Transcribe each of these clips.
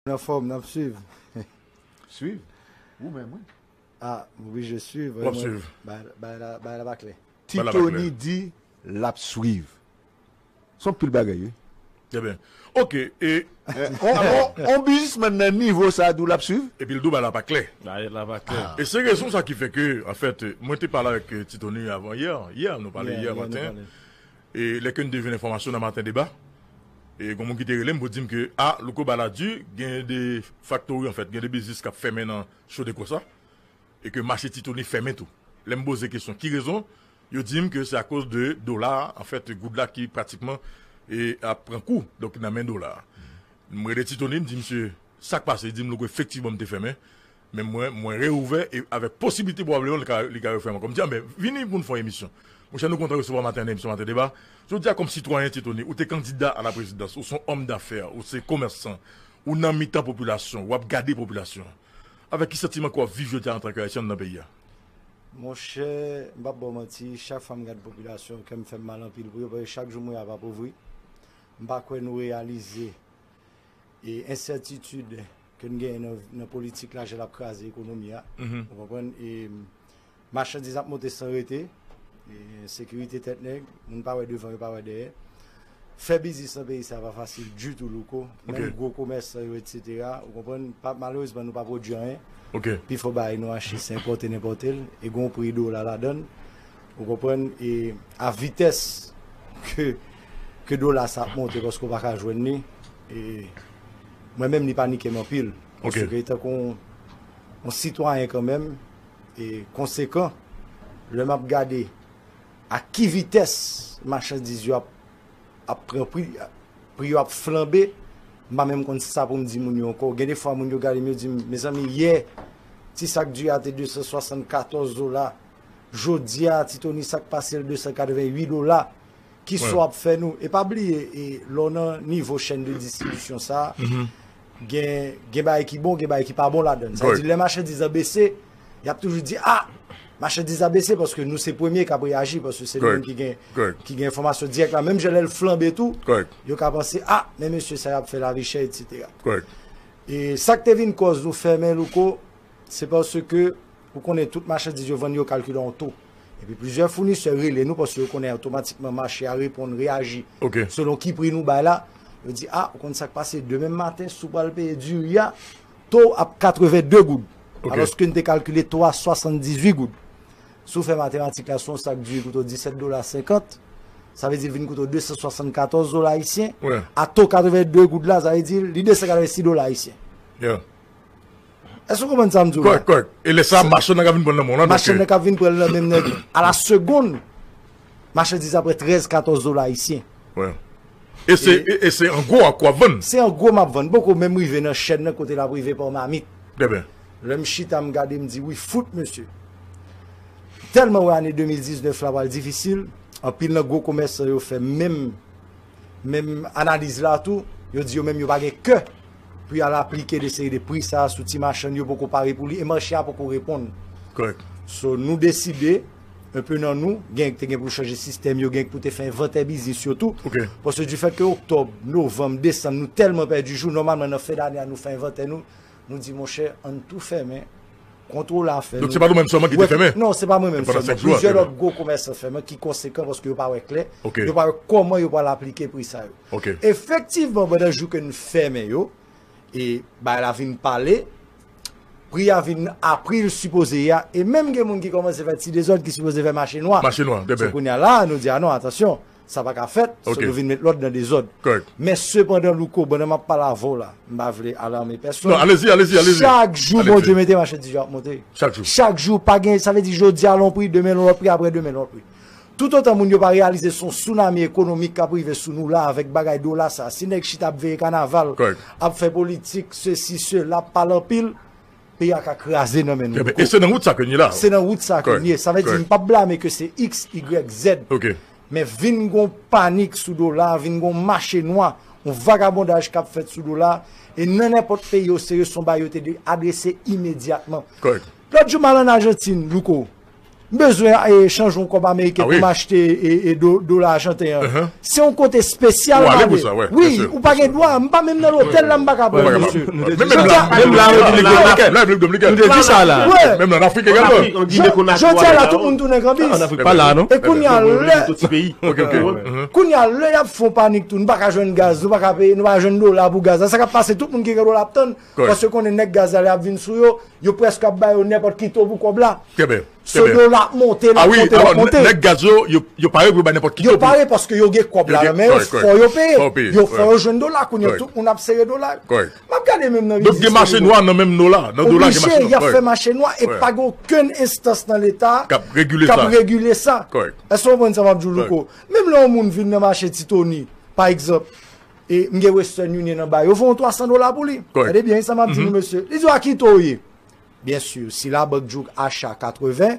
Mwen anfòm, nap swiv. Swiv? Ou menm wi. Ah m oblije swiv. Wap swiv. Bagay la pa klè. Ti Tony di lap swiv. Son pil bagay wi. Trè byen. Ok e. On bizismann nan nivo sa di w lap swiv? Epi l di w bagay la pa klè. Bagay la pa klè. E se rezon sa ki fè ke anfèt mwen te pale avèk Ti Tony avan yè. Yè nou pale yè maten. E lè ke n te jwenn enfòmasyon nan maten deba, e gon moun ki te rele m pou di m ke a Louko ba la di gen 2 faktori anfèt, gen 2 biznis k ap fèmen nan Chodeko sa, e ke mache Titoni fèmen tou. Lè m poze kesyon ki rezon, yo di m ke se akoz de dola a, anfèt goud la ki pratikman e ap pran kou donk nan men dola a. M rele Titoni m di misye sa k pase, li di m Louko efektivman m te fèmen, Men mwen, mwen reouvè e avèk posiblite pwobableman li ka, li ka refè ankò. M di, anben, vini pou n fè yon emisyon. Mon chè, nou kontan resevwa w maten nan emisyon Maten Deba. Jodi a, kòm sitwayen, Ti Tony, ou te kandida a la prezidans, ou se yon òm dafè, ou se komèsan, ou nan mitan popilasyon, w ap gade popilasyon an. Avèk ki santiman ke w ap viv jodi a antanke Ayisyen anndan peyi a? Mon chè, m p ap ba w manti, chak fwa m gade popilasyon an, kè m fè m mal anpil pou yo, paske chak jou m wè y ap apovri. M pa kwè nou reyalize E ensètitid ke n genyen nan politik la jan l ap kraze ekonomi a. Ou konprann? E machandiz ap monte san rete. E ensekirite tèt nèg. Moun pa wè devan yo pa wè dèyè. Fè biznis nan peyi sa pa fasil ditou Louko. Menm gwo komèsan yo etsetera. Ou konprann? Malerezman nou pa pwodui anyen. Pi fò bagay nou achte se enpòte n enpòte l. E gen yon pri dola ladan l. Ou konprann? E a vitès ke dola sa ap monte paske ou pa ka jwenn li. E mwen menm li panike m anpil. Ok. Paske tankou yon sitwayen kanmenm e konsekan, lè m ap gade a ki vitès machandiz yo ap ap pran pri, pri yo ap flanbe, m pa menm konn sa pou m di moun yo ankò. Gen defwa moun yo gade m yo di m, mezanmi yè ti sak diri a te 274 dola, jodi a ti toni sak pasel 288 dola. ki so ap fè nou e pa bliye e lò nan nivo chèn de distribisyon sa gen gen bay ki bon gen bay ki pa bon la dan sa di lè machè di zan bese y ap toujou di a machè di zan bese paske nou se premye k ap reyaji paske se nou ki gen ki gen enfomasyon direk la menm jè lè l flanbe tou yo ka panse a men mesye sa y ap fè la vi chè etc e sak te vin kòz nou fèmen louko se paske Ou konnen tout machandiz yo vann yo kalkile yon to. Epi plizyè founisè rele nou paske yo konnen otomatikman mache a reponn, reyaji selon ki pri nou bay la. Yo di, a, ou konn sa k pase, demen maten si w pral peye diri a, to w ap 82 goud. Alòske n te kalkile to a 78 goud. Si w fè matematik la, si yon sak diri koute w 17 dola 50, sa vle di l vin koute w 274 dola ayisyen. A to 82 goud la, sa vle di li 286 dola ayisyen. Èske ou konprann sa m di ou la? Kòrèk, kòrèk. E lè sa a, machann nan ka vin pran l nan men w lan. Machann nan ka vin pran l nan men m nan alasegonn. Machandiz la pran trèz, katòz dola ayisyen. E se an gwo a k w ap vann? Se an gwo m ap vann. M poko menm rive nan chèn nan kote l ap rive pa mamit. Trè byen. Lè m chita m gade m di wi fout mesye. M tèlman wè ane 2019 la pral difisil, anpil nan gwo komèsan yo fè menm analiz la tou. Yo di yo menm yo pa gen kè pou y al aplike de seri de pri sa sou ti machann yo poko pare pou li e mache a poko reponn. Kòrèk. So nou deside, un peu nan nou, gen te gen pou chanje sistèm yo, gen pou te fè envantè biznis yo tou. Ok. Paske di fèt ke oktòb, novanm, desanm nou tèlman pèdi jou, nòmalman nan fen dane a nou fè envantè nou, nou di monchè ann tou fèmen, kontwole a fè. Donk se pa nou menm sèlman ki te fèmen? Non, se pa mwen menm sèlman. Plizyè lòt gwo komèsan fèmen ki konsekan paske yo pa wè klè, yo pa wè kòman yo pral aplike pri sa yo. Efektivman, pandan jou ke n fèmen yo, e bagay la vin pale, pri a vin a pri l sipoze ye a, e menm gen moun ki kòmanse fè ti dezòd ki sipoze fè mache nwa. Se kounye a la a nou di a non atansyon, sa pa ka fèt, se nou vin met lòd nan dezòd. Men sepandan Louko, pandan m ap pale avè w la, m pa vle alame pèsonn, chak jou Bondye mete machandise yo ap monte. Chak jou, pa gen, sa vle di jodi a l on pri, demen l on lòt pri, aprè demen l on lòt pri. Toutotan moun yo pa reyalize son tsunami ekonomik kap rive sou nou la avèk bagay dola sa si nèg chita ap veye kanaval ap fè politik sesi sela ap pale anpil peyi a ka kraze nan men nou tou e se nan wout sa ke n ye la se nan wout sa ke n ye sa vle di m pap blame ke se xyz men vin gon panik sou dola vin gon mache nwa yon vagabondaj kap fèt sou dola e nan nenpòt peyi o serye son bagay yo te dwe adrese imedyatman lòt jou m al an ajantin louko M bezwen chanj yon kòb ameriken pou m achte dola ajanten an. Se yon kote spesyal m ale. Wi, ou pa gen dwa. M pa menm nan lotèl la m pa ka pran misye. Menm la an Repiblik Dominikèn. Menm Repiblik Dominikèn. Nou te di sa la. Menm la an Afrik egalman. Jodi a la tout moun tounen kanbis. An Afrik pa la non. E kounye a lè. Kounye a lè y ap fon panik tou. Nou pa ka jwenn gaz. Nou pa ka jwenn dola pou gaz la. Sa k ap pase tout moun ki gen dola ap tann. Paske yo konnen nèg gaz la lè yap vin sou yo, yo prèske ap ba yo nenpòt ki to pou kòb la. So do la ap monte, lap monte, lap monte. Awi, alò nèg gaz yo, yo pare pou yo bay nenpòt ki to pou. Yo pare paske yo gen kòb la nan men yo, fò yo peye. Fò yo peye. Yo fò yo jwenn do la kounye, tout moun ap sere do la yo. Kòrèk. Map gade menm nan rizis. Gen mache nwa nan menm do la, nan do la gen mache nwa. Oblije, yap fè mache nwa e pa gen okenn enstans nan leta. Kap regile sa. Kap regile sa. Kòrèk. Èske w konprann sa map di w Louko? Menm lè yon moun vin nan mache Titoni, pa egzanp. E m gen western union anba yo voyon 300 dola pou li. Tande byen sa map di nou mesye. Li di w a ki to ou ye? Byen sur si labank di w acha 80,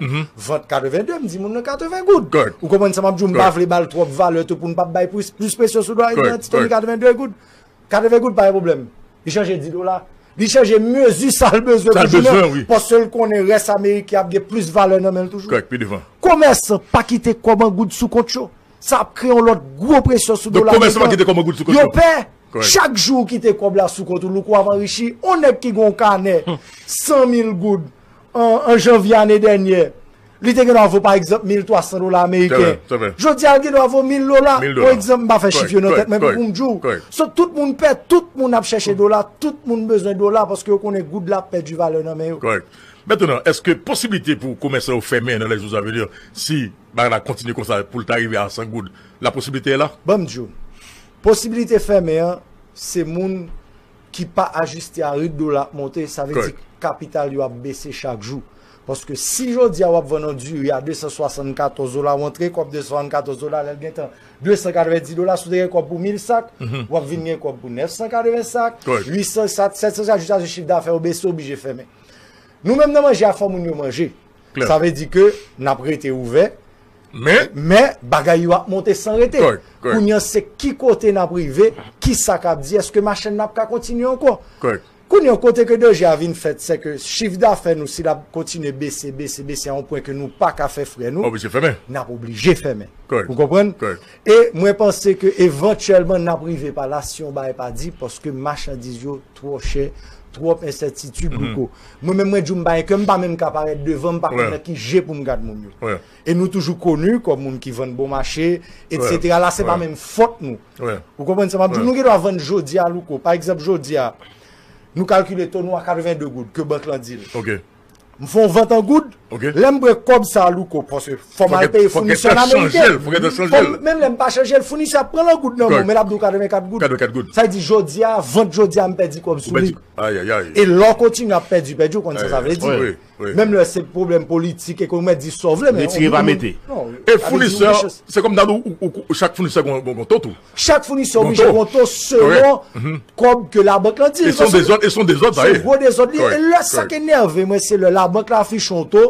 vant 82 m di moun nan 80 goud. Ou konprann sa map di w m pa vle ba l twòp valè tou pou n pap bay plis presyon sou dwal li an ti to li 82 goud. 80 goud pa gen pwoblèm. Li chanje 10 dola. Li chanje mezi sa l bezwen pou jounen an paske l konnen rès ameriken ap gen plis valè nan men l toujou. Komèsan pa kite kòb an goud sou kont yo. Sa ap kreye yon lòt gwo presyon sou dola ameriken. Yo pè, chak jou ou kite kòb la sou kont ou, louko ap anrichi. Yon nèg ki gen yon kanè 100 mil goud an janvye ane dènyè, li te gen dwa vo pa egzanp 1300 dola ameriken. Jodi a li gen dwa vo 1000 dola, pou egzanp, m pa fè chif yo nan tèt mwen pou m di w. So tout moun pè, tout moun ap chèche dola, tout moun bezwen dola paske yo konnen goud la ap pèdi valè nan men yo. Kòrèk. Mètenan, èske posibilite pou komèsan yo fèmen nan lè jou sa vini si Bagay la kontinye konsa poul ta rive a 100 goud la posibilite la? Banm diw. Posibilite fèmen an se moun ki pa ajiste a rit dola ap monte sa vle di kapital yo ap bese chak jou. Paske si jodia wap vann yon diri a 274 dola ou antre kòb 274 dola lèl gentan 290 dola si w te gen kòb pou 1000 sak wap vin gen kòb pou 980 sak 800 sak 700 sak jiskaske chif dafè ou bese ou oblije fèmen. Nou menm nan manje a fò moun yo manje. Sa vle di ke n ap rete ouvè, men bagay yo ap monte san rete. Kounye an se ki kote n ap rive, ki sa k ap di, eske machenn nan ap ka kontinye ankò? Kounye an kote ke dèje a vin fèt, se ke chifdafè nou si l ap kontinye bese, bese, bese a yon pwen ke nou pa ka fè frè nou, n ap oblije fèmen. Ou konprann? E mwen panse ke evantyèlman n ap rive pa la si yon bagay pa di paske machandiz yo Twò chè, twòp ensètitid louko. Mwen menm mwen diw m pa gen kè, m pa menm ka parèt devan, m pa konn nan ki je pou m gad moun yo. E nou toujou koni kòm moun ki vann bon mache, etc. La se pa menm fòt nou. Ou konprann sa m ap diw? Nou gen dwa vann jodi a louko. Pa egzanp jodi a, nou kalkile to nou a 82 goud ke bank lan di l. M fon vant an goud, lè m bwe kòb sa a louko paske fò m al peye founisè an ameriken. Fò gètè chanje l. Menm lè m pa chanje l, founisè a pran l an goud nan men w men l ap di w 84 goud. 84 goud. Sa di jodi a, vant jodi a m pèdi kòb sou li. Ou pèdi. Ayayay. E lè w kontinye ap pèdi, pèdi ou konn sa sa vle di. Wi, wi. Menm lè se pwoblèm politik, ekonomik, mèt di sa w vle men. Retire pa mete. Non. E founisè, se kòm ta di w chak founisè gon ton tou. Chak founisè oblije gonto selon kòb ke labank lan di l. Paske se yon dezòd sa ye. Se yon gwo dezòd li ye. E lè sa ki enève mwen se lè labank lan afiche yon to.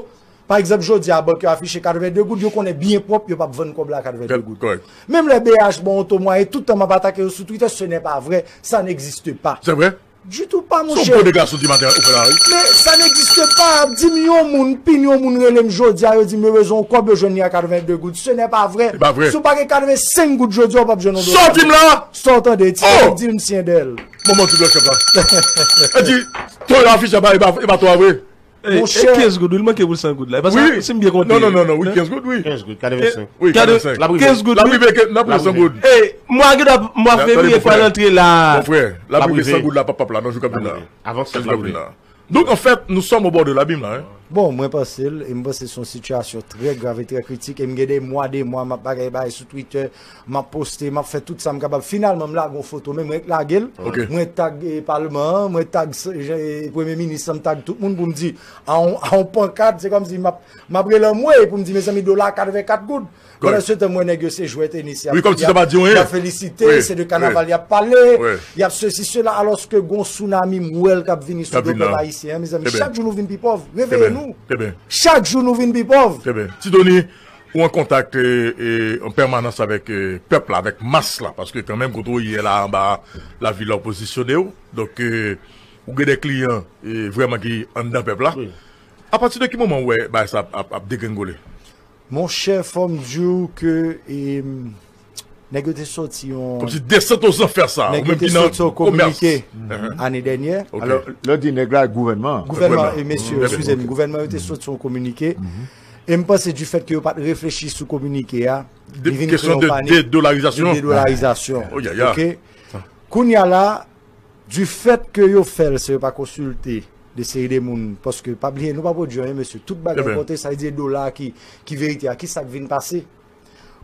Pa egzanp jodi a bank yo afiche 82 goud yo konnen byen pwòp yo p ap vann kòb la a 82 goud. Kòrèk. Menm lè BH ba w yon to mwayen tout tan m ap atake yo sou twitè se nè pa vrè sa n egziste pa. Se vrè. Du tout pas mon cher. Men sa n'existe pas ap dim yon moun pin yon moun relem jodia yo dim erezon ou kob yo jwenn li a 82 goud ce n'est pas vrai si ou pa gen 85 goud jodia ou pap jwenn yon dola sòtim la sa ou tande ti Eric dil m syendel. Manman ti blan chèf la. Edi, to yo afiche a epa to a vre. E 15 goud, il manke pou 100 goud la. Wi, non, non, non, non, wi, 15 goud, wi. 15 goud, 45. Wi, 45. La prive, 15 goud, wi. La prive, 15 goud, la prive, 100 goud. E, mwa gida, mwa fevri, e fwa lantre la. Mon frè, la prive, 100 goud la, pap pap la, non, jou kap vin la. Avan 100 goud la. Donk, an fèt, nou som o bò de la bim la, e. Bon, mwen panse l, e mwen panse son sitiyasyon trè grav e trè kritik, e mwen gade mwa de mwa, map bagay bagay sou Twitter, Map poste, map fè tout sam kapab. Finalman m lage yon foto men mwen k lagel. Mwen tag palman an, mwen tag premye minis lan, m tag tout moun poum di a yon pankad, se kòmsi map rele anmwey poum di mezanmi dola a 84 goud. Pandan se tan m wè nèg yo se jwè tenis yap fè, yap felisite, se de kanaval yap pale, yap sesi sela alòske gon sounami m wèl kap vini sou do pèp ayisyen an mezanmi. Chak jou nou vin pi pòv, reveye nou. Chak jou nou vin pi pòv. Ti Doni, Ou an kontak an pèmanans avèk pèp la, avèk mas la, paske kanmenm kote ou ye la anba lavi la ou pozisyone ou, donk ou gen de kliyan vrèman ki anndan pèp la, a pati de ki moman ou wè bagay sa ap degrenngole? Monchè fò m di ou ke. Nèg yo te soti yon. Kom si desant o zanfè sa. Nèg yo te soti yon kominike ane dènyè. Alo, lè di nèg la, gouvènman. Gouvènman, e mesye, eskize m, gouvènman yo te soti yon kominike. E m panse di fèt ke yo pat reflechi sou kominike a. Li vin kre yon panik. Kesyon de dolarizasyon. De dolarizasyon. O yaya. Ok. Kounya la, di fèt ke yo fèl se yo pa konsilte de seri de moun. Paske, pa bliye, nou pa pwodwi anyen mesye. Tout bagay konte, sa vle di e dola ki verite a. Ki sa k vin pase?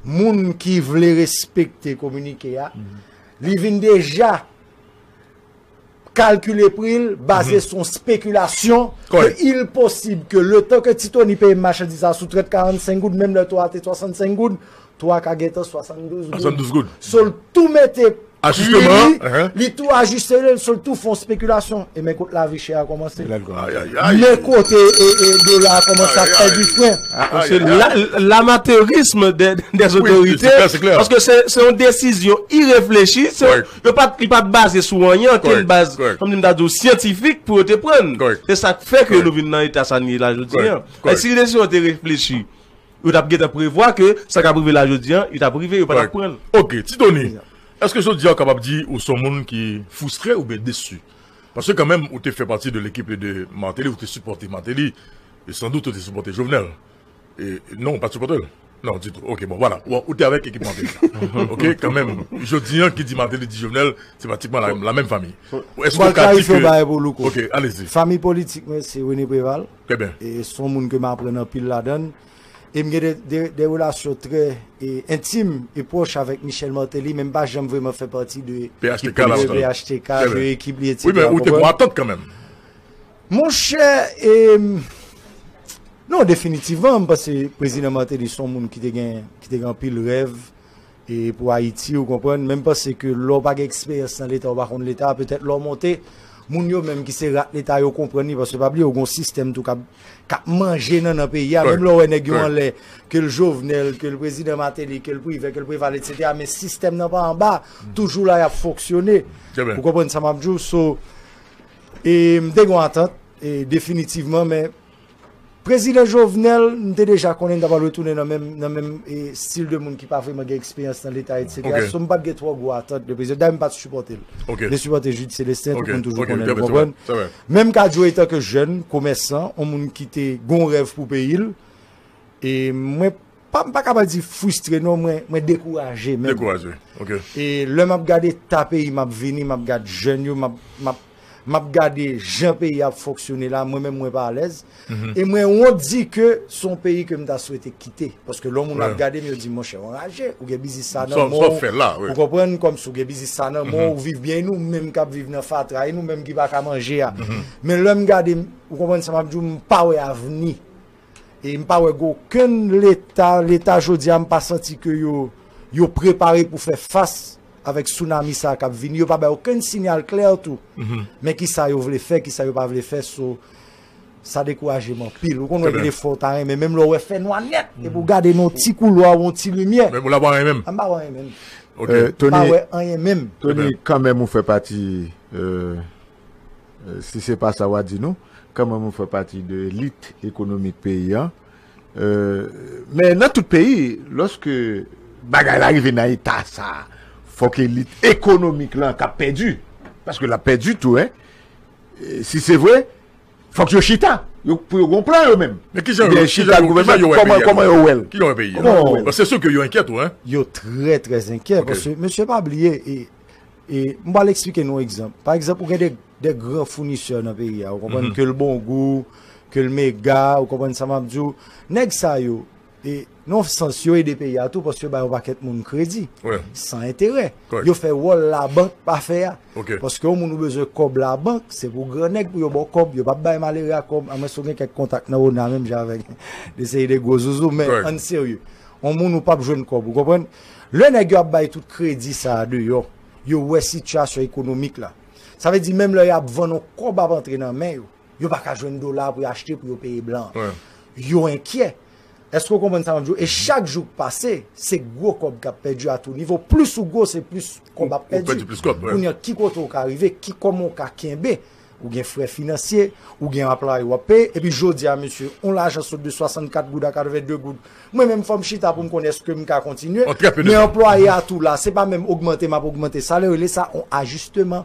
moun ki vle respekte kominike a, li vin deja kalkile pri l baze sou yon spekilasyon ke il posib ke le tan ke Ti Toni peye m machandiz la sou trèt 45 goud, menm lè to a te 65 goud, to a ka gentan 72 goud. So l tou mete. Ajustement an. Wi wi, li tou ajuste li, sou l tou fon spekilasyon. E men kote lavi chè a kòmanse. Men kote dola a kòmanse ap pèdi fren. Lamateurism des otorite, paske se yon desizyon ireflechi, yo pa li pa baze sou anyen, anken baz, kòm si m ta di w, syantifik pou yo te pran. Se sa k fè ke nou vin nan eta sa n ye la jodi an. Si desizyon an te reflechi. Yo tap gentan prevwa ke sa kap rive la jodi an, li tap rive, yo pa tap pranl. Ok, Ti Tony, eske jodi a ou kapab di ou son moun ki foustre oubyen desu? Paske kanmenm ou te fè pati de lekip de Martelly, ou te sipòte Martelly, e san dout ou te sipòte Jovenel. E non, ou pat sipòtel? Non, ditou. Ok, bon, vwala. Bon, ou te avèk ekip Martelly la. Ok, kanmenm, jodi an, ki di Martelly di Jovenel, se pratikman la menm fanmi. Eske ou ka di ke. Mwen klarife yon bagay pou Louko. Ok, alezi. Fanmi politik mwen se René Préval. Trè byen. E son moun ke m aprann anpil ladann. E m gen de relasyon trè entim e pwòch avèk Michel Martelly men m pa janm vreman fè pati de phtk la lontan. Phtk, de ekip li etc. Wi men ou te pran atant kanmenm. Monchè e non definitivman m panse Prezidan Martelly son moun ki te gen anpil rèv E pou Ayiti, ou konprann, menm panse ke lè w pa gen eksperyans nan leta, ou pa konn leta, petèt lè w monte, moun yo menm ki se rat leta yo konprann li, paske pa bliye ou gen yon sistèm tou k ap, k ap manje nannan peyi a, menm lè w wè nèg yo anlè, ke l Jovenel, ke l prezidan Martelly, ke l Privè, ke l Preval etsetera, men sistèm nan pa anba, toujou la y ap fonksyone. Ou konprann sa m ap di w? So, e m te gen yon atant, e definitivman, men Prezidan Jovenel, m te deja konnen m ta pral retounen nan menm nan menm stil de moun ki pa vreman gen eksperyans nan leta etc. Ok. So m pat gen twò gwo atant de prezidan. Dayè m pat sipòte l. Ok. M te sipòte Jude Celestin, tout Ok, moun toujou ok, konnen ok, l, ou sa va, konprann? sa va. Men m ka di w etanke jèn, komèsan, on moun ki te gen on rèv pou peyi l, e mwen Pa m paka pa di fwistre non mwen mwen dekouraje menm. Dekouraje ok. E lè m ap gade eta peyi m ap vini m ap gad jèn yo m ap m ap m ap gade jan peyi a ap fonksyone la mwen menm mwen pa alèz e mwen wont di ke s on peyi ke m ta swete kite paske lè w moun ap gade m yo di monchè w anraje ou gen biznis sa nan men w ou konprann kòmsi w gen biznis sa nan men w ou viv byen e nou menm k ap viv nan fatra e nou menm ki pa ka manje a men lè m gade m ou konprann sa m ap di w m pa wè avni. E m pa wè gen okenn leta, leta jodi a m pa santi ke yo yo prepare pou fè fas avèk tsunami sa kap vini, yo pa bay okenn sinyal klè tou. Men ki sa yo vle fè, ki sa yo pa vle fè so sa dekouraje m anpil. Ou konn wè gen de fwa ou ta renmen menm lè ou wè fè nwa nèt epi ou gade nan yon ti koulwa ou yon ti limyè. Menm ou la pa wè anyen menm? M pa wè anyen menm. M pa wè anyen menm. Tony kanmenm ou fè pati Si se pa sa wa di nou, kanmèm ou fè pati de elit ekonomik peyi an. Men nan tout peyi, lòske bagay la rive nan eta sa, fòk elit ekonomik lan ka pèdi. Paske la pèdi tou. Si se vre, fòk yo chita pou yo gon plan yo menm. Men ki jan yo wè peyi an? Kòman yo wèl? Kòman yo wèl? Se sou ke yo enkyè tou. Yo trè trè enkyè. Paske mesye pa bliye e. E m pral eksplike nou egzanp. Pa egzanp, ou gen de gran founisè nan peyi a. Ou konprann ke l bon gou, ke l mega, ou konprann sa m ap di w. Nèg sa yo, e nan yon sans, yo ede peyi a tou paske yo bay yon pakèt moun kredi san enterè. Yo fè wòl labank pa fè a. Paske yon moun ou bezwen kòb labank, se pou gran nèg pou yo ba w kòb. Yo pap bay malere a kòb. Amwens ou gen kèk kontak nan ona menm jan avè m. Yon seri de gwo zouzou. Men, ann serye. Yon moun ou pap jwenn kòb. Ou konprann? Lè nèg yo ap bay tout kredi sa a deyò, yo wè sitiyasyon ekonomik la. Sa vle di menm lè y ap vann yon kòb ap antre nan men yo, yo pa ka jwenn dola pou yo achte pou yo peye blan an. Yo enkyè. Èske w konprann sa m ap di w? E chak jou k pase, se gwo kòb k ap pèdi a tou nivo. Plis ou gwo, se plis kòb ap pèdi. Kounye a, ki kote ou ka rive? Ki kòman ou ka kenbe? Ou gen frè finansye, ou gen anplaye w ap peye, epi jodi a mesye, yon lajan sot de 64 goud a 82 goud, mwen menm fò m chita pou m konnen èske m ka kontinye, men anplwaye a tou la, se pa menm ogmante m ap ogmante salè, yo rele sa yon ajisteman.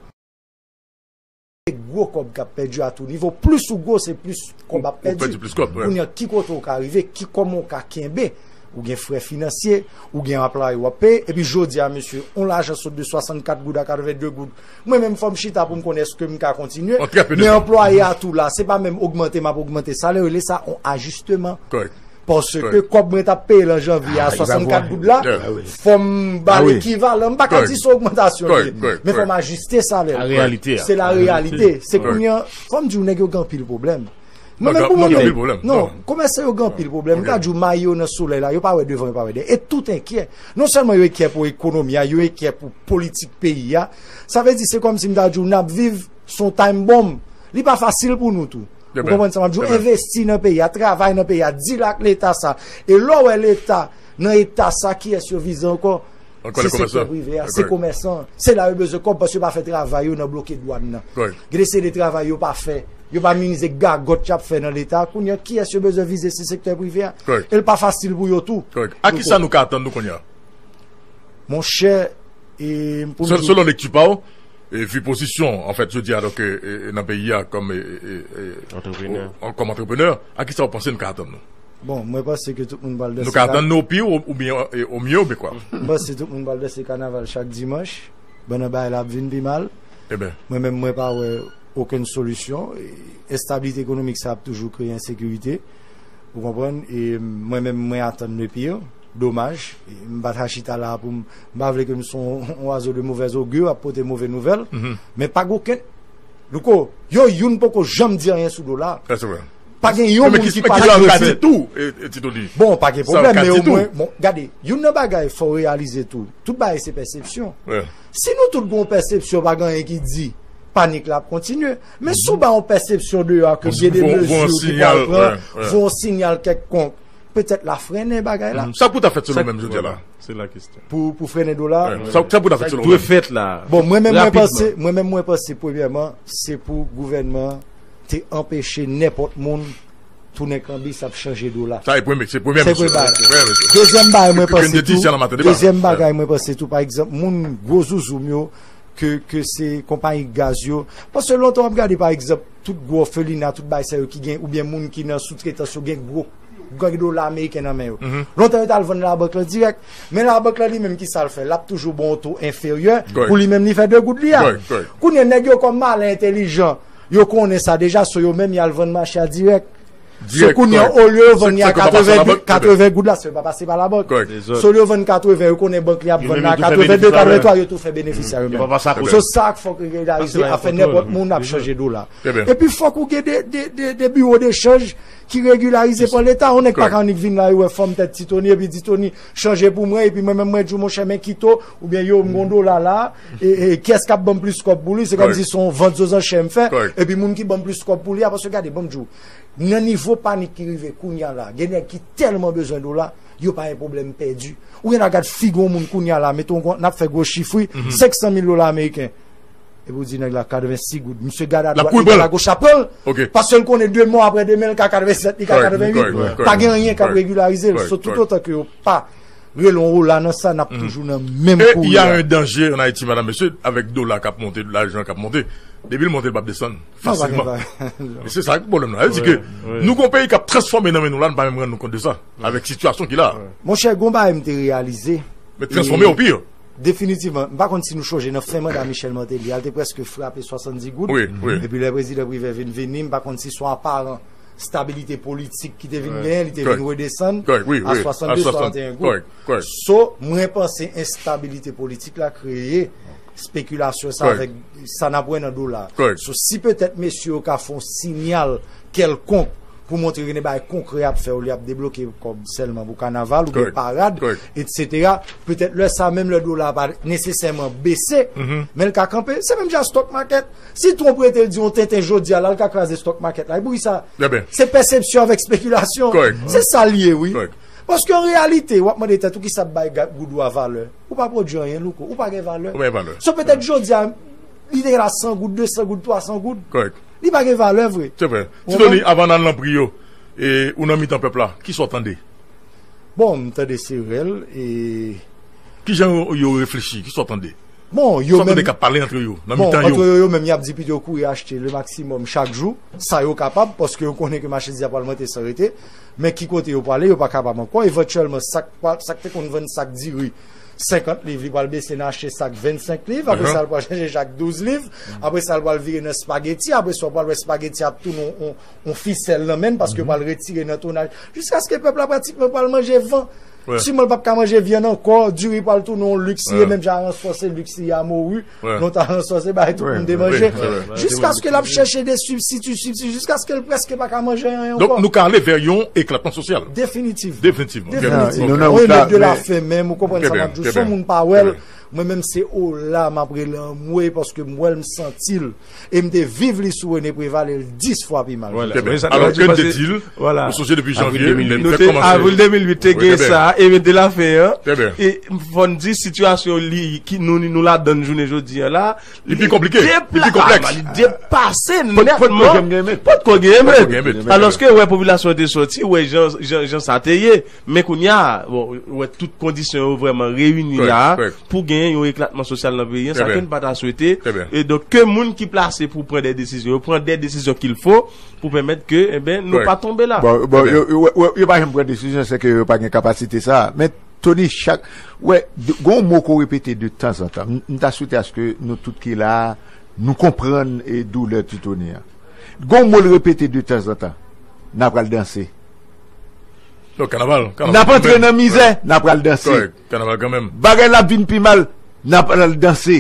Se gwo kòb k ap pèdi a tou nivo, plis ou gwo se plis kòb ap pèdi, kounye a ki kote ou ka rive, ki kòman ou ka kenbe, ou gen frè finansye, ou gen anplaye w ap peye, epi jodi a mesye, yon lajan sot de 64 goud a 82 goud, Mwen menm fò m chita pou m konn èske m ka kontinye, men anplwaye a tou la, se pa menm ogmante m ap ogmante salè, yo rele sa yon ajisteman. Paske kòb mwen t ap peye l an janvye a 64 goud la, fò m ba l ekivalan, m pa ka di se ogmantasyon li ye, men fò m ajiste salè m. Se la reyalite. Se kounye an, fò m di w nèg yo gen anpil pwoblèm. Non men pou mwen gen anpil pwoblèm. Non, komèsan yo gen anpil pwoblèm. Mwen ta di ou mayi yo nan solèy la, yo pa wè devan, yo pa wè dèyè. E tout enkye. Non sèlman yo enkye pou ekonomi a, yo enkye pou politik peyi a. Sa vle di se kòm si m ta di ou n ap viv sou yon time bomb. Li pa fasil pou nou tou. Ou konprann sa m ap di ou? Envesti nan peyi a, travay nan peyi a, dil ak leta sa. E lè w wè leta nan eta sa, kiyès yo vize ankò? Se sektè prive a, se komèsan, se la yo bezwen kòb paske yo pa fè travay yo nan bloke dwàn nan. Gen de seri de travay yo pa fè, yo pa minize gagòt y ap fè nan Leta a. Kounye a, kiyès yo bezwen vize se sektè prive a. E l pa fasil pou yo tou. A ki sa nou ka atann nou kounye a? Monchè, pou m di. Selon lekti pa w, vi pozisyon an fèt jodi a nan peyi a kòm antreprenè, a ki sa w panse nou ka atann nou? Bon, mwen panse ke tout moun pral danse. Nou ka atann nou pi ou byen ou mye ou byen kwa? Mwen panse tout moun pral danse kanaval chak dimanch, pandan bagay la ap vin pi mal. Eben. Mwen menm mwen pa wè okenn solisyon. Enstabilite ekonomik sa ap toujou kreye ensekirite. Ou konprann? E mwen menm mwen atann le pire. Domaj. M pa ta chita la a pou m. M pa vle ke m son yon oiseau de mauvaise augure ap pote move nouvèl. Men pa gen okenn. Louko, yo youn poko janm di anyen sou dola a. Sa se vre. Pa gen yon moun ki pa di yo fè. Bon, pa gen problem, men ou mwen, bon, gade, yon nan bagay fò realize tou, tout bagay se pèsepsyon. Si nou tout goun pèsepsyon, pa gen yon ki di, panik la ap kontinye. Men sou ba yon pèsepsyon de yo a, ke gen de mezi ou ki pa pran, voun sinyal kèk konk, petèt la frene bagay la. Sa pou ta fèt selon menm jodia la? Se la kestyon. Pou frene do la? Sa pou ta fèt selon menm? Sa ki dwe fèt la? Bon, mwen menm mwen panse, mwen menm mwen panse, premyèman, se pou gouvènman. te anpeche nenpòt moun tounen kanbis ap chanje dola. Sa se premye bagay. Dezyèm bagay mwen panse tou, dezyèm bagay mwen panse tou, pa egzanp moun gwo zouzoum yo ke se konpayi gaz yo, paske lontan w ap gade pa egzanp tout gwo òfelina, tout bagay sa yo ki gen oubyen moun ki nan soutretans yo gen gwo gen dola ameriken nan men yo. Lontan yo t al vann labank lan dirèk. Men labank lan li menm ki sa l fè? L ap toujou ba w on to enferyè pou li menm li fè de goud li a. Kounye a nèg yo kòm malè entelijan. Yo konnen sa deja so yo menm yal vann mache a dirèk. So kounya olye yo vann li a 80 goud la se yo pa pase pa la bank. So olye yo vann 80 yo konnen bank li ap vann la 82, 83 yo tou fè benefis a yo menm. So sa k fòk regilarize a fè nenpòt moun ap chanje dola. Epi fòk ou gen de biwo de chanj ki regilarize pa leta. On nèg pa ka annik vin la yo wè fòm tèt ti Tony epi di Tony chanje pou mwen epi mwen menm mwen di w monchè men kito oubyen yo m gon dola la. Kiyès kap banm plis kòb pou li, se kòmsi se yon vant zòzò chè m fè, epi moun ki banm plis kòb pou li a, paske gade banm di w, nan nivo panik ki rive kounya la, gen nèg ki tèlman bezwen dola, yo pa yon pwoblèm pèdi. Ou gen dwa gad figi yon moun kounya la, mete w kon, nap fè gwo chif wi, 500 mil dola ameriken, epi w di nèg la 86 goud, misye gad a dwat, li gad a goch lap pran l, paske l konnen demen aprè demen l ka 87, li ka 88, pa gen anyen kap regilarize l, so toutotan ke yo pa. Relon ou la nan sa nap toujou nan menm kouri a. E ya yon danje an Ayiti madam mesye avèk dola kap monte lajan kap monte depil monte lpap desann fasilman e se sa ki pwoblèm nan sa vle di ke nou gon peyi kap transfòme nan men nou la nou pa menm rann nou kont de sa avèk sitiyasyon ki la. Monchè gon bagay mte reyalize Men transfòme o pire. Definitivman mpa konn si nou chonje nan fen manda Michel Martelly a lte prèske frape 70 goud epi lè prezidan Privè vin vini mpa konn si son aparan stabilite politik ki te vin genyen, li te vin redesann a 62, 61 goud. So, mwen panse enstabilite politik la kreye spekilasyon sa avèk sa n ap wè nan dola. So, si petèt mesye yo ka fè yon sinyal kèlkonk pou montre gen de bagay konkrè y ap fè olye y ap debloke kòb sèlman pou kanaval oubyen parad, etsetera, petèt lè sa menm lè dola a pa nesesèman bese, men l ka kanpe. Se menm jan ak stòk makèt. Si Trump rete l di yon tenten jodia la l ka kraze stock market la epi wi sa se pèsepsyon avèk spekilasyon se sa l ye wi paske an reyalite wap mande tèt ou kisa ap bay goud ou a valè ou pa pwodwi anyen louko ou pa gen valè so petèt jodia li te gen la 100 goud 200 goud 300 goud li pa gen valè vre. Se vre. Ti Doni avan nan nan pri yo e ou nan mitan pèp la kisa w tande? Bon m tande se rèl e. Kijan yo reflechi kisa w tande? Bon, yo menm. Sa kote kap pale antre yo, nan mitan yo. Bon, antre yo yo menm yap di pito kouri achte le maksimòm chak jou, sa yo kapab, paske yo konnen ke machandiz la pral monte san rete. Men ki kote yo pwale, yo pa kapab ankò. Evantyèlman, sak pral, sak te konn vann sak diri 50 liv, li pral bese nan achte sak 25 liv. Apre sa, li pral chanje chak 12 liv. Apre sa, li pral vire nan spageti. Apre sa, ou pral wè spageti ap tounen yon fisèl nan men l, paske yo pral retire nan tonnaj. Jiskaske pèp la pratikman pral manje van. Siman l pap ka manje vyann ankò, diri pral tounen yon lux li ye menm jan aransò se lux li ye a Moru, non t aransò se bagay tout moun te manje. Jiskaske l ap chèche de sibstiti, sibstiti, jiskaske l prèske pa ka manje anyen ankò. Donk nou ka ale vè yon eklatman sosyal. Definitivman. Definitivman. Definitivman. On est dans de la fin menm, ou konprann sa m ap di w. Si yon moun pa wè l, mwen menm se ola m ap rele anmwey paske m wè l, m santi l. e m te viv li sou Rene Preval e l 10 fwa pi mal. Trè byen. Alò ke n te di l, ou sonje depi janvye, lè nou te kòmanse. Avril 2008 te gen sa, e men delafen an. Trè byen. E fò n di sitiyasyon li ki nou ladann jounen jodi an la. Li pi konplike. Li pi konplèks. Li depase nètman. Pot ko gen menm. Pot ko gen menm. Alòske wè popilasyon te soti, wè jan sa te ye. Men kounya, bon, ou wè tout kondisyon yo vrèman reyini la a pou genyen yon eklatman sosyal nan peyi an, sa ke n pa ta swete. E donk, ke moun ki plase pou pran de desizyon yo pran de desizyon kil fo pou pèmèt ke, enben, nou pa tonbe la. Bon, bon, yo pa janm pran desizyon, se ke yo pa gen kapasite sa a. Men, Tony, chak, ou wè, gen yon mo ke w repete de tan zan tan. M ta swete aske nou tout ki la a, nou konprann doulè ti Tony an. Gen yon mo l repete de tan zan tan, N apral danse. Nap antre nan mizè, nap pral danse Bagay la ap vin pi mal, nap pral danse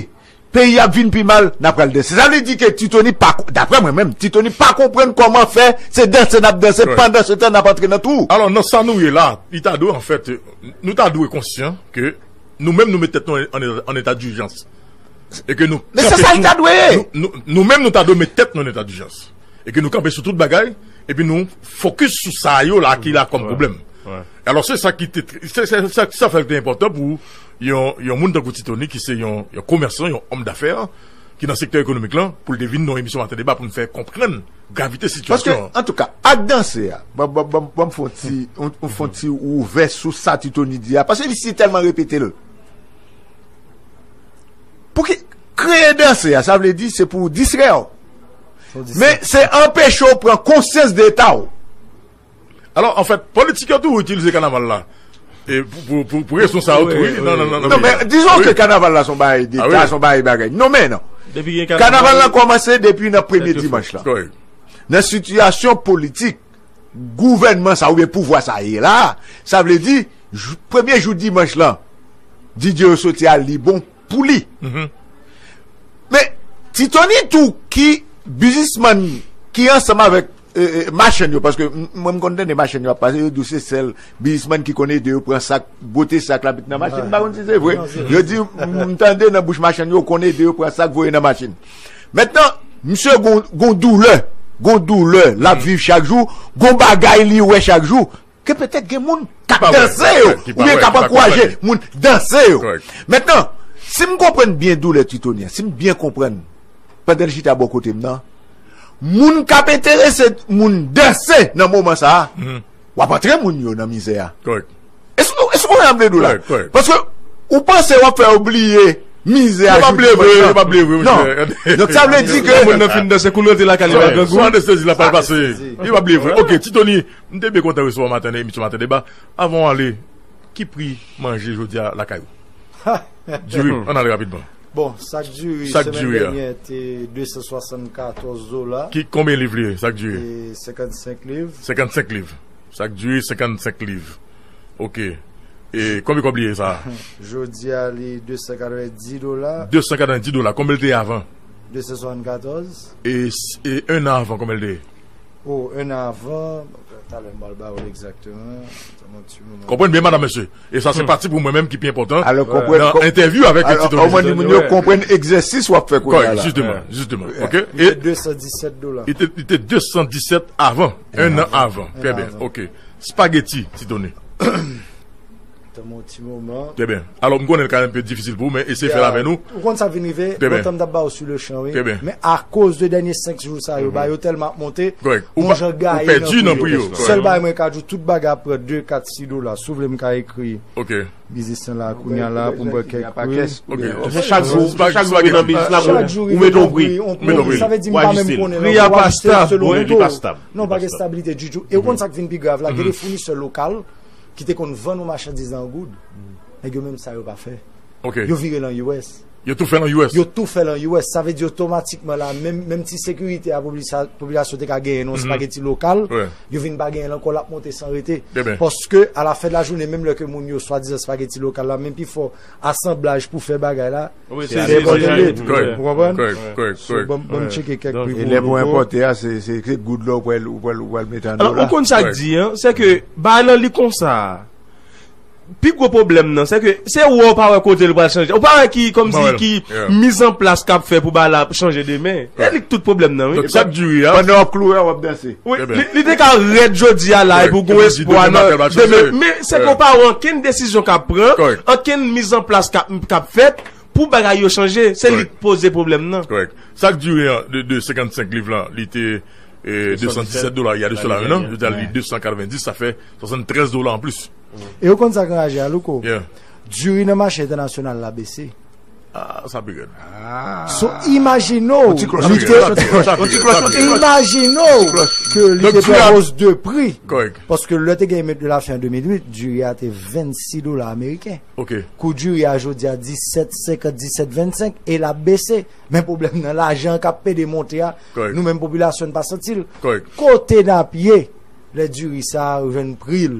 Peyi a ap vin pi mal, nap pral danse Sa vle di ke Ti Tony pa, daprè mwen menm, Ti Tony pa konprann kòman fè se danse nap danse pandan se tan nap antre nan twou. Alò nan sa nou ye la, li ta dwe anfèt, nou ta dwe konsyan ke nou menm nou met tèt nou an eta dijans e ke nou kanpe tou. Men se sa li ta dwe ye. Nou menm nou ta dwe met tèt nou an eta dijans. e ke nou kanpe sou tout bagay, epi nou fokis sou sa yo la ki la kòm pwoblèm. Alò se sa ki te, se sa fè l te enpòtan pou yon moun tankou Ti Tony ki se yon komèsan, yon òm dafè, ki nan sektè ekonomik lan, pou l te vin nan yon emisyon Maten Deba pou nou fè konprann gravite sitiyasyon an. Paske, antouka, ak danse a, ban m fè yon ti, yon fè yon ti ouvè sou sa Ti Tony di a, paske li si tèlman repete l. Pouki, kreye danse a, sa vle di se pou distrè w. Men se anpeche w pran konsyans de eta w. Alò, an fèt, politik yo toujou itilize kanaval la pou rezon sa yo tou. Non men, dizon ke kanaval la son bagay deta, son bagay bagay. Non men non. Kanaval la kòmanse depi nan premye dimanch la. Nan sitiyasyon politik, gouvènman sa oube pouvwa sa ye la, sa vle di, premye jou dimanch la, DJ yo soti al li bon. Pou li. Men, Ti Tony tou ki bizismann ki ansanm avèk machann yo, paske mwen m konn tande machann yo ap pale, yo di w se sèl bizismann ki konn ede yo pran sak, bwote sak la met nan machin, m pa konn si se vre. Yo di, m tande nan bouch machann yo, konn ede yo pran sak voye nan machin. Mentnan, misye gon doulè, gon doulè l ap viv chak jou, gon bagay li wè chak jou. Ke petèt gen moun k ap danse yo, oubyen k ap ankouraje moun danse yo. Mentnan, si m konprann byen doulè Tritoni an, si m byen konprann pandan l chita bò kote m nan, moun k ap enterese moun danse nan moman sa a, w ap antre moun yo nan mizè a. Èske w konprann sa m vle di w la? Paske ou panse w ap fè yo bliye mizè a jou dimanch lan. Yo pa bliye vre, yo pa bliye vre, monsè. Donk sa vle di ke. Lè moun nan fin danse, kou l rantre lakay li, l ap gen grangou. Sou anestezi l ap al pase. Yo pa bliye vre. Ok, Tritoni. M te byen kontan resevwa w maten nan emisyon Maten Deba. Avan w ale, ki pri manje jodi a lakay ou? Diri, ann ale rapidman. Bon, sak diri semèn dènyè te 274 dola. Ki konbyen liv li ye, sak diri? 55 liv. 55 liv. Sak diri 55 liv. Ok. E konbyen kòb li ye sa a? Jodi a li 290 dola. 290 dola. Konbyen li te ye avan? 274. E enn an avan konbyen li te ye? Oh 1 an avan, talè m pral ba ou l egzakteman, tann yon ti moman. Konprann byen madam mesye, e sa se pati pou mwen menm ki pi enpòtan nan entèvyou avèk yon ti toni. Alò konprann di moun yo konprann egzèsis w ap fè kounya la. Kòrèk, jisteman, jisteman, ok. Li te 217 dola. Li te 217 avan, 1 an avan, trè byen, ok. Spageti ti toni. Tanmen yon ti moman. Trè byen. Alò m konnen l ka enpe difisil pou ou men eseye fè l avè nou. Ou konn sa k vin rive? Trè byen. Lontan m t ap ba ou sou le chan wi. Trè byen. Men akoz de dènye 5 jou sa yo, bagay yo tèlman ap monte. Kòrèk. Ou pa, ou pèdi nan pri yo. Kòrèk. Sèl bagay mwen ka di w, tout bagay ap pran 2, 4, 6 dola. Si w vle m ka ekri. Ok. Biznis lan la kounya la pou m wè kèk pri. Ok. Se chak jou, se chak jou nan biznis la ou met yon pri. Ou met yon pri. Sa vle di m pa menm konnen l. Pri a pa stab. Pri a pa stab. Non, pa gen stabilite ditou. E ou konn sa k vin pi grav la? Gen de founisè lokal. ki te konn vann ou machandiz la an goud, nèg yo menm sa yo pa fè. Yo vire l an US. Yo tou fè l an US. Yo tou fè l an US. Sa vle di otomatikman la, menm ti sekirite a popilasyon te ka genyen nan yon spageti lokal, yo vin pa genyen l ankò, l ap monte san rete. Paske alafen de lajounen, menm lè ke moun yo swadizan spageti lokal la, men pifò asanblaj pou fè bagay la, Se ale enpòte li. Ou konprann? Kòrèk, kòrèk, kòrèk. Bon, bon cheke kèk pri pou yo. Lè pou enpòte a, se, se kèk goud la ou pral, ou pral, ou pral mete an dola. Alò, ou konn sa k di an? Se ke bagay lan li konsa. Pi gwo pwoblèm nan, se ke se ou a ou pa wè kote li pral chanje. Ou pa wè ki, kòmsi, ki mizanplas k ap fè pou bagay la chanje demen. Se li ki tout pwoblèm nan wi. Sa k di wi a. Pandan w ap kloure a, w ap danse. Wi li te ka rèd jodi a la epi w gen espwa nan demen men se pou w pa wè ankenn desizyon k ap pran, ankenn mizanplas k ap fèt pou bagay yo chanje. Se li k poze pwoblèm nan. Korèk. Sa k dire an de 55 liv lan li te 217 dola ya de sela un an, yo te al li 290 sa fè 73 dola anplis. E ou konn sa k anraje a Louko? Diri nan mache entènasyonal la bese. Sa pi rèd. So imajine w li te Imajine w ke li te pran os de pri. Kòrèk. Paske lè te gen emet de la fen an 2008, diri a te 26 dola ameriken. Ok. Kou diri a jodi a 17,50, 17,25 e l ap bese. Men pwoblèm nan lajan an k ap pede monte a, nou menm popilasyon n pa santi l. Kòrèk. Kote n ap ye lè diri sa a jwenn pri l?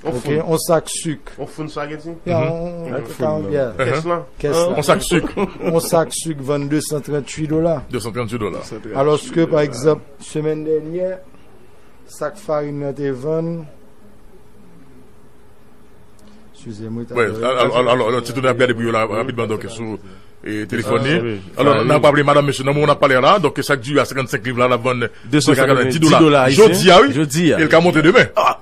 Ok, on sak suk. On foun spaghetti? Ya, on foun. Ya. Kès lan? Kès lan. On sak suk. On sak suk vann 238 dola. 238 dola. Aloske, pa egzab, semen dènyè, sak farin nan te vann, size mwen ta vann. Wè, alo, alo, ti tou nan ap gade pou yo la, rapid ban doke sou telefoni. Alo, nan ap aple madame mesye, nan moun ap pale la, doke sak di ya 55 liv la la vann 290 dola. Jodi ya, wè. Jodi ya. El ka monte demen.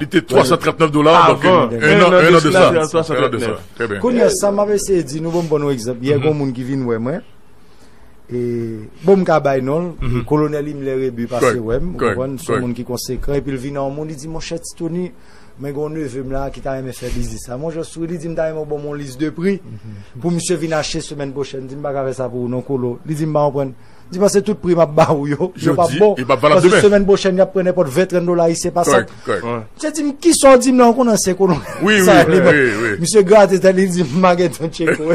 Li te 339 dola avan 1 an de sa. 1 an de sa. 1 an de sa. Trè byen. Kounye a sa m ap eseye di nou, bon m ban nou egzanp. Yè gen yon moun ki vin wè mwen, e bon m ka bay non l, Kolonèl Imlè Rebu pase wè m, ou konprann, se yon moun ki konsekan, epi l vin an yon moun, li di, monchè Ti Toni, mwen gen yon neve m la ki ta renmen fè biznis la. Monchè souri, li di m ta renmen ou ban m yon lis de pri pou misye vin achte semèn pwochèn. M di m pa ka fè sa pou ou non Kolo. Li di m pa konprann. Di pase tout pri map ba ou yo, yo pa bon. Yo pa valab demen. Pase semen pwochen yap pran nenpot 20, 30 dola ayisyen pa sak. Kòrèk, kòrèk. Mse di m, kisa w di m la, ou konnen ansyen kolon. Wi, wi, wi, wi, wi. Mse grate tèt li, li di m, ma gen ton tcheko.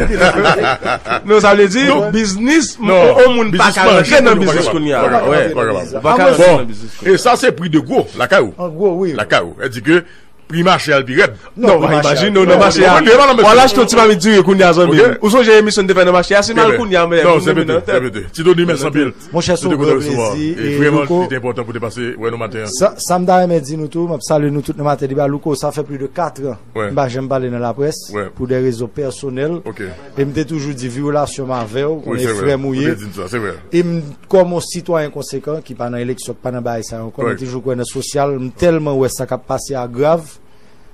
Non, sa vle di, biznis, on moun pa ka rantre nan biznis kounye a. Ou pa ka rantre nan biznis kounye a. Bon, e sa se pri de gwo, lakay ou. An gwo, wi. Lakay ou. E di ke. Pri mache al pi rèd. Non, mwen imajine ou nan mache a. Mwen mwen mwen. Ou al achte yon ti mamit diri kounye a zanmi m. Ou sonje emisyon n te fè nan mache a? Si m al kounye a mwen mwen mwen mwen. Sè vre, ti Doni mèsi anpil. Mwen chè sou gwo plezi. E vreman li te enpòtan pou te pase wè nou maten an. Sa sa m ta renmen di nou tou, m ap salye nou tout nan maten debat. Louko sa fè plis de 4 an m pa janm pale nan laprès pou dè rezon pèsonèl. Em te toujou di vyolasyon m avèw konnen e frèm ou ye em kòm on sitwayen konsekan ki pa nan eleksyon ki pa nan bagay sa yo ankò mwen toujou kwè nan sosyal m tèlman wè sa kap pase a grav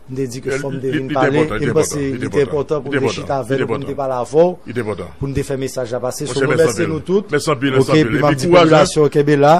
m te di ke fòm te vin pale em panse li te enpòtan pou m te chita avèw pou m te pale avèw pou m te fè mesaj la pase sou mwen mèsi nou tout ok epi map di popilasyon kenbe la.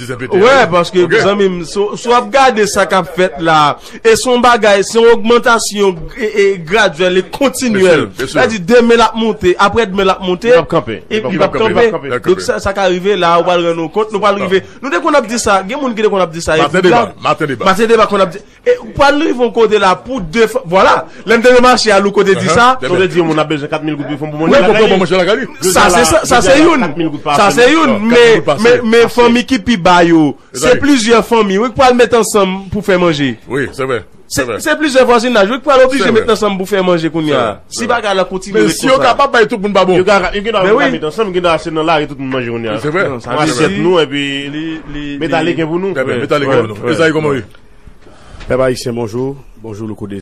Wè paske zanmim sou ap gade sa kap fèt la e son bagay se yon ogmantasyon e gradyèl e kontinyèl sa di demen l ap monte apre demen l ap monte li p ap kanpe li p ap kanpe donk sa ka rive la ou pa l rann ou kont nou pa l rive nou te konn ap di sa gen moun ki te konn ap di sa maten deba maten deba konn ap di E ou pral rive yon kote la pou defann Vwala, lè m te nan mache a Louko te di sa. Louko te di yon moun ap bezwen 4 mil goud pou l fè yon bon manje lakay li. Wi, pou l fè yon bon manje lakay li. Sa se sa, sa se youn. Sa se youn. Men, men fanmi ki pi ba yo, se plizyè fanmi wi k pral met ansanm pou fè manje. Wi, se vre. Se plizyè vwazinaj wi k pral oblije met ansanm pou fè manje kounya. Si bagay la kontinye ret konsa. Yo kapab bay tout moun pa bon. Yo ka gen dwa vin la met ansanm, gen dwa se nan lari tout moun manje kounya. Li se vre. Nan asyèt nou epi li metalik gen pou nou. Metalik gen pou nou. Ezayi kòman ou ye? Pèp ayisyen bonjou. Bonjou Louko Deziye.